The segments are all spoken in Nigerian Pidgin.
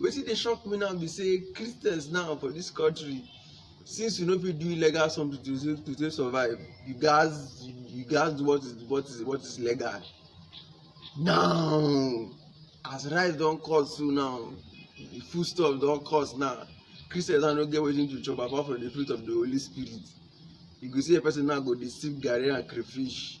Wetin dey shock me now be say Christians now for this country since you no fit do illegal something to take to take survive you gats you, you gats do what is what is what is legal now as rice don cost so now the food stuff don cost now christians now no get wetin to chop apart from the fruit of the holy spirit you go see a person now go dey sip garri and crayfish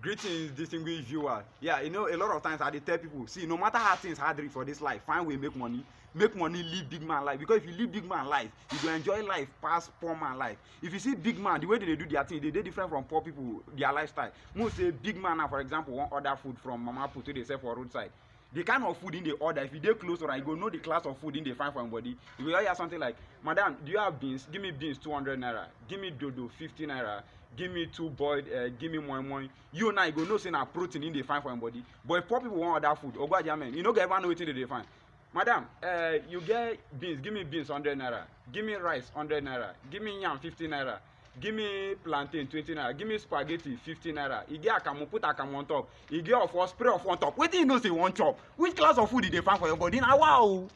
Greetings, distinguished viewer. Yeah, you know, a lot of times I dey tell people, see, no matter how things hard reach for this life, find way make money. Make money, live big man life. Because if you live big man life, you go enjoy life pass poor man life. If you see big man, the way they dey do their thing, they dey different from poor people, their lifestyle. Most say big man now, for example, wan order food from Mama Put wey dey sell for roadside. the kind of food in the order if you dey close or you go know the class of food in the find for im body you go hear something like madam do you have beans give me beans two hundred naira give me dodo fifty naira give me two boiled uh, give me moi moi you now you go know say na protein in the find for im body but if poor people wan order food ogbo ajamen you no go ever know wetin dey dey find madam uh, you get beans give me beans hundred naira give me rice hundred naira give me yam fifty naira give me plantain twenty naira give me spaghetti fifty naira e get akamu put akamu on top e get ofo spray ofo on top wetin you know say you wan chop which class of food you dey find for your body na wa o.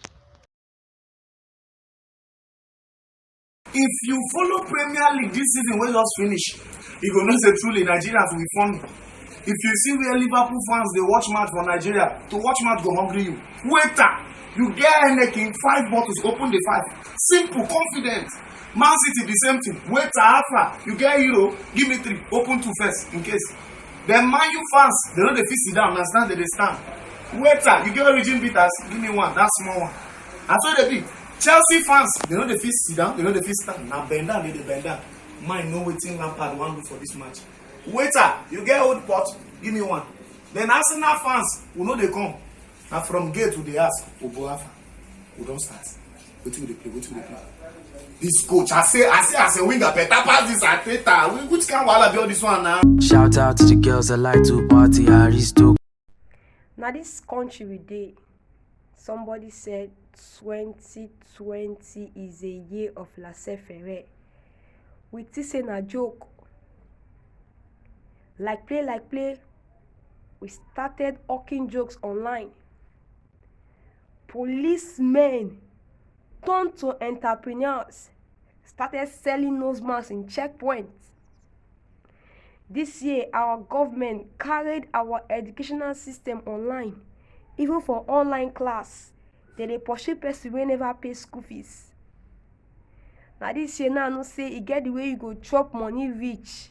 if you follow premier league this season wey just finish you go know say truly nigeria to be funny if you see where liverpool fans dey watch match for nigeria to watch match go hungry you waiter you get heineken five bottles open the five simple confident man city the same thing wait alpha you get euro give me three open two first in case then man you fans they no dey fit sit down na stand they dey stand waiter you get origin bitters give me one that small one na so e dey be chelsea fans they no dey fit sit down they no dey fit stand na bend down they dey bend down mind know wetin lampard wan do for this match waiter you get old pot give me one then arsenal fans we no dey come na from gate we dey ask oboafa we don start. wetin we dey play wetin we dey play this coach i say i say as a winger better pass this ateta Whi- which kind wahala be all this one na. Shout out to the girls that like to party, Aristo. na dis country we dey somebody said 2020 is a year of laissez-faire we think say na joke like play like play we started hawking jokes online Police men turn to entrepreneurs, started selling nose masks in checkpoints. This year, our government carried our educational system online, even for online class. They dey pursue person wey never pay school fees. Na this year now I know say e get the way you go chop money reach.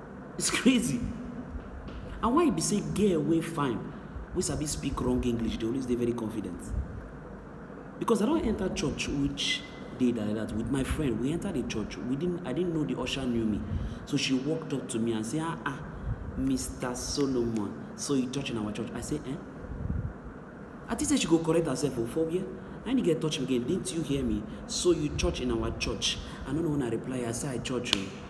It's crazy and why e be say girl wey fine wey sabi speak wrong English dey always dey very confident because I don enter church which day like that with my friend we enter the church we didn't I didn't know the usher knew me so she walked up to me and say ah ah Mr. Solomon so you touch in our church I say eh I think say she go correct herself o oh, for where and the girl touch me again didn't you hear me so you church in our church I no know when I reply I say I church o. Oh.